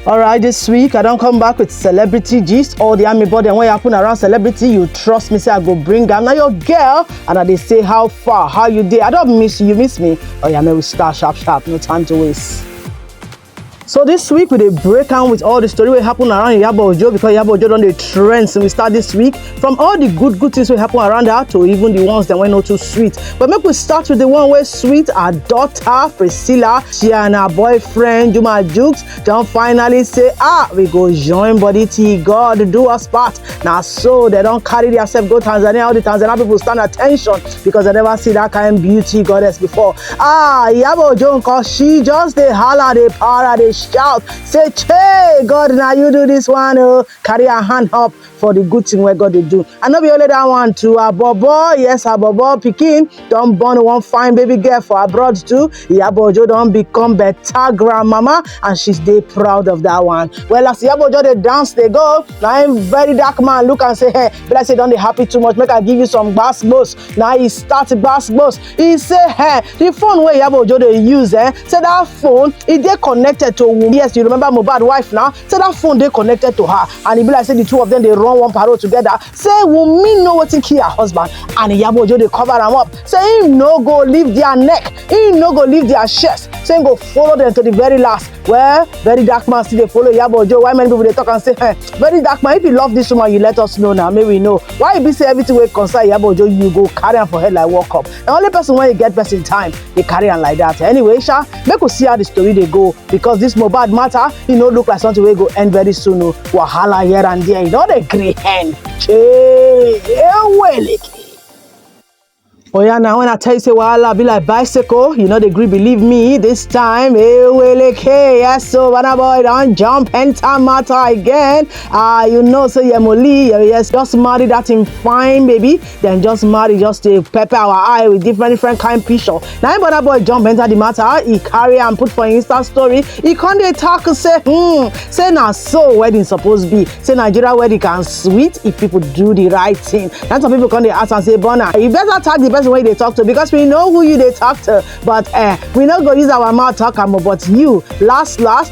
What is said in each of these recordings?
All right, this week I don't come back with celebrity gist or the army body and what happen around celebrity. You trust me, say I go bring am. Now your girl and I they say how far, how you dey. I don't miss you, you miss me. Oh yeah, man, we start sharp, sharp. No time to waste. So this week we dey break am with all the story wey happen around Iyabo Ojo because Iyabo Ojo don dey trend since we start this week. from all the good good things wey happen around her to even the ones dem wey no too sweet but make we start with the one wey sweet her daughter priscilla she and her boyfriend juma jukes don finally say ah we go join body till god do us part na so dem don carry theirself go tanzania all the tanzania people stand at ten tion because dem never see that kind beauty goddess before ah iyabo ojo nkan she just dey holla dey para dey shout say chey god na you do this one o carry her hand up for the good thing wey God dey do. And no be only that one too, Abobo, yes, Abobo pikin don born one fine baby girl for abroad too. Iyabo Ojo don become better grandmama and she dey proud of that one. Well, as Iyabo Ojo dey dance dey go, na him very dark man look am say, hey, be like say you don dey happy too much, make I give you some gbasgbos. Na he start gbasgbos. He say, hey, the phone wey Iyabo Ojo dey use, eh, say that phone, e dey connected to Wunmi. Yes, you remember Mohbad wife now? say that phone dey connected to her and e be like say the two of them dey run one parole together say wunmi know wetin kill her husband and iyabo ojo dey cover am up say im no go leave their neck im no go leave their chest say im go follow them to the very last well very dark man still dey follow iyabo ojo why many people dey talk am say eh very dark man if you love this woman you let us know na make we know why e be say everything wey concern iyabo ojo you go carry am for head like world cup na only person wey get person time dey carry am like that anyway sha make we see how the story dey go because this mohbad matter e no look like something wey go end very soon o wahala here and there e no dey gree end chee eweleke. oya na when i tell you say wahala be like bicycle you no dey gree believe me this time eweleke yes so bana boy don jump enter matter again ah you know say yemoli yes just marry that him fine baby dem just marry just dey pepper our eye with different different kind picture na im burna boy jump enter the matter e carry am put for im insta story e con dey talk say hmm say na so wedding suppose be say nigeria wedding can sweet if people do the right thing na some people con dey ask am say burna you better tag the person wey you dey talk to because we know who you dey talk to but eh we no go use our mouth talk am o but you last last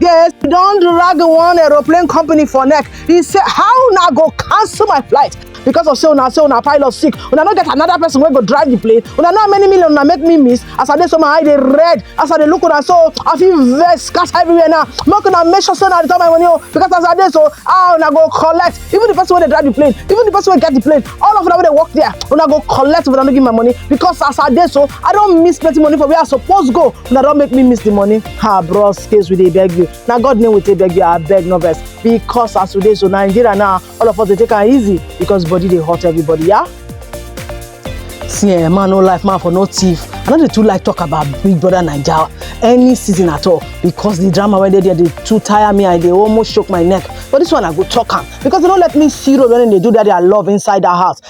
Yes, he don drag one aeroplane company for neck. He say, how una go cancel my flight? because of say una say una pilot sick una no get another person wey go drive the plane una know how many million una make me miss as i dey so my eye dey red as i dey look una so i fit vex scatter everywhere now make una make sure say una return my money o because as i dey so ah una go collect even the person wey dey drive the plane even the person wey get the plane all of una wey dey work there una go collect if una no give my money because as i dey so i don miss plenty money for where i suppose go una don make me miss the money ha bros case we dey beg you na god name we take beg you abeg no vex because as we dey so nigeria now all of us dey take am easy because body dey hurt everybody yeah. see eh man no life man for no thief i no dey too like talk about big brother naija any season at all because the drama wey dey there dey too tire me i dey almost choke my neck but this one i go talk am because they no let me see road when dem dey do that their love inside that house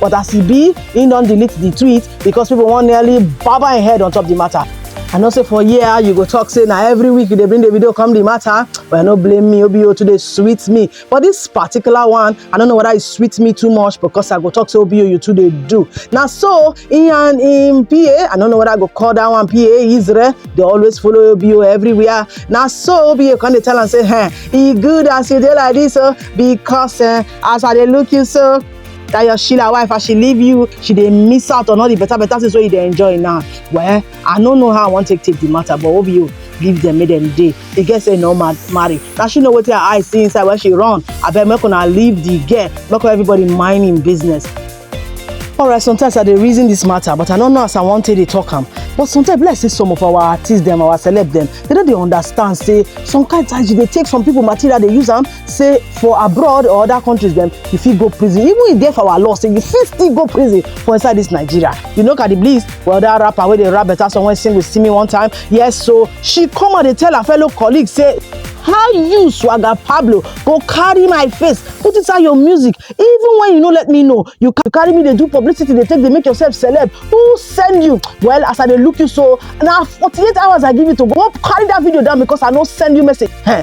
but as e be he don delete the tweet because people wan nearly baba im head on top the matter i know say for here you go talk say na every week you dey bring the video come the matter well no blame me obo too dey sweet me but this particular one i don't know whether e sweet me too much because i go talk say obo you too dey do na so he and him pa i don't know whether i go call that one pa israel dey always follow obo everywhere na so obo come dey tell am say eh e good as you dey like this o because eh, as i dey look you so that your sheila wife as she leave you she dey miss out on all the better better things wey you dey enjoy now well i no know how i wan take take the matter but obi o leave them make them dey the girl say no ma marry na she know wetin her eye see inside when she run abeg make una leave the girl make everybody mind him business alright sometimes i dey reason this matter but i no know as i wan take dey talk am but sometimes be like say some of our artists dem our celeb dem they no dey understand say some kind times you dey take some people material dey use am say for abroad or other countries dem you fit go prison even if dey for our law say you fit still go prison for inside this nigeria you know cardi bliss well that rapper wey dey rap better song wey sing with simi one time yes so she come out dey tell her fellow colleagues say how you swagger pablo go carry my face put inside your music even when you no let me know you ca- carry me dey do publicity dey take dey make yourself celeb who send you well as i dey look you so na forty-eight hours i give you to go carry that video down because i no send you message Heh,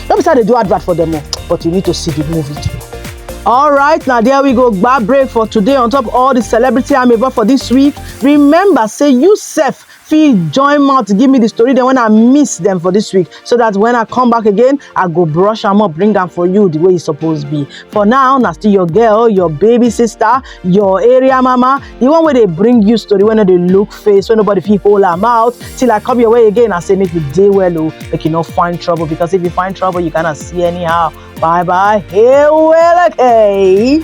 no be say i dey do advert for them o but you need to see the movie too. All right, now there we go. Bad break for today. On top of all the celebrity I'm about for this week. Remember, say you self feel join mouth to give me the story. Then when I miss them for this week, so that when I come back again, I go brush them up, bring them for you the way it's supposed to be. For now, now still your girl, your baby sister, your area mama, the one where they bring you story when they look face wey nobody fit hold am out till i come your way again i say make you dey well o make you no find trouble because if you find trouble you gonna see anyhow bye bye hey well okay.